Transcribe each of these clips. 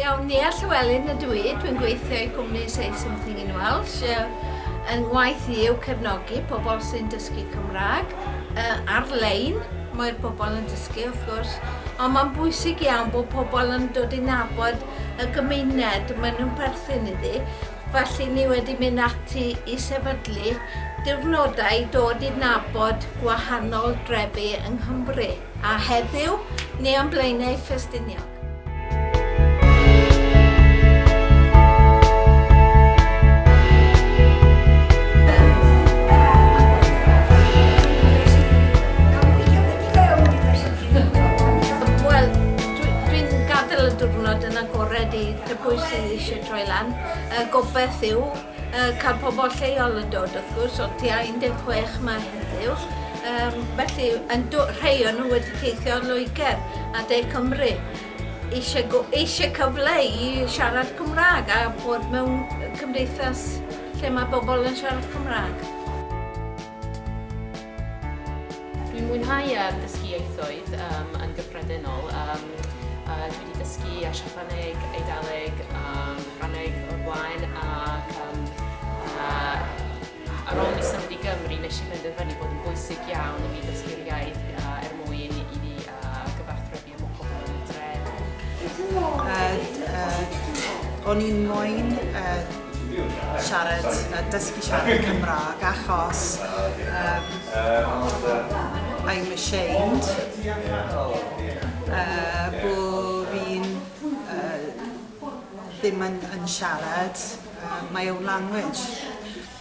Iawn, Nia Llewelyn ydw i, dwi'n gweithio i cwmni Say Something in Welsh. Yn ngwaith i yw cefnogi pobl sy'n dysgu Cymraeg ar-lein, mae'r pobl yn dysgu wrth gwrs, ond mae'n bwysig iawn bod pobl yn dod i nabod y gymuned maen nhw'n perthyn iddi, felly ni wedi mynd ati i sefydlu diwrnodau i dod i nabod gwahanol drefi yng Nghymru. A heddiw, ni am Blaenau Ffestiniog. y diwrnod yn agored i dy bwy sydd eisiau troi lan. Y gobaith yw Yy cael pobl lleol yn dod wrth gwrs o'r tua 16 ma heddiw yym felly yn do- rhei o nhw wedi teithio o Loegr a De Cymru eisiau go- eisiau cyfle i siarad Cymraeg a bod mewn cymdeithas lle mae bobl yn siarad Cymraeg. Dwi'n mwynhau um, dysgu ieithoedd um, yn gyffredinol. Um, uh, dwi wedi dysgu a Siapaneg, Eidaleg a Ffraneg o'r blaen ac um, uh, ar ôl mi symud i Gymru nes i fynd yn fyny bod yn bwysig iawn i mi dysgu'r iaith uh, er mwyn i fi uh, gyfarthrebu O'n i'n moyn siarad, dysgu siarad Cymraeg achos I'm ashamed bo fi'n ddim yn siarad my own language.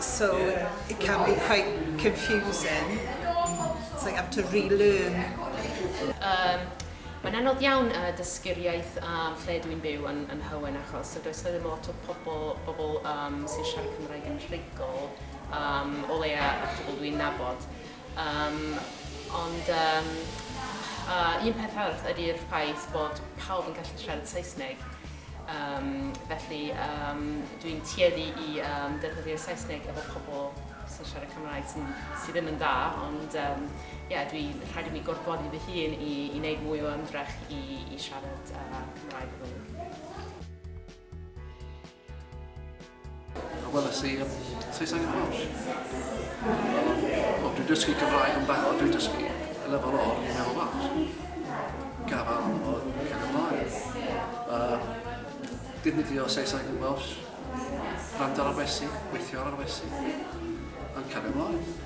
So it can be quite confusing, so you have to relearn. Yym, mae'n anodd iawn yy dysgu'r iaith yym lle dwi'n byw yn yn Nhywyn achos yy does 'na ddim lot o pobl bobl yym sy'n siarad Cymraeg yn rhugl yym o leia' y pobl dwi'n nabod. Yym, ond yym, a, un peth arall ydi'r ffaith bod pawb yn gallu siarad Saesneg, yym, felly yym, dwi'n tueddu i yym, defnyddio'r Saesneg efo pobl sy'n siarad Cymraeg sy sy ddim yn dda, ond yym, ie, dwi, rhaid i mi gorfodi fy hun i i wneud mwy o ymdrech i i siarad yy Cymraeg efo nhw. A weles i um, Saesneg yn Welsh. O, dwi'n dysgu Cymraeg yn barod, dwi'n dysgu y lefel o'r ni'n meddwl Welsh. Gafal yn bod yn cael ymlaen. Uh, defnyddio Saesneg yn Welsh, rand ar arwesu, gweithio ar arwesu, yn cael ymlaen.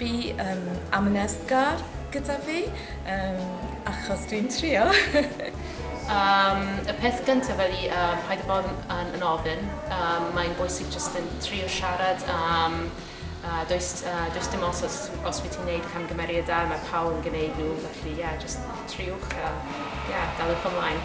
Bu yym amyneddgar gyda fi yym achos dwi'n trio. Yym y peth gynta ydi yym paid a bod yn yn yn ofyn yym mae'n bwysig jyst yn trio siarad yym a does yy does dim os os os wyt ti'n neud camgymeriad da ma' pawb yn gneud nhw felly ie jyst triwch a ie daliwch ymlaen.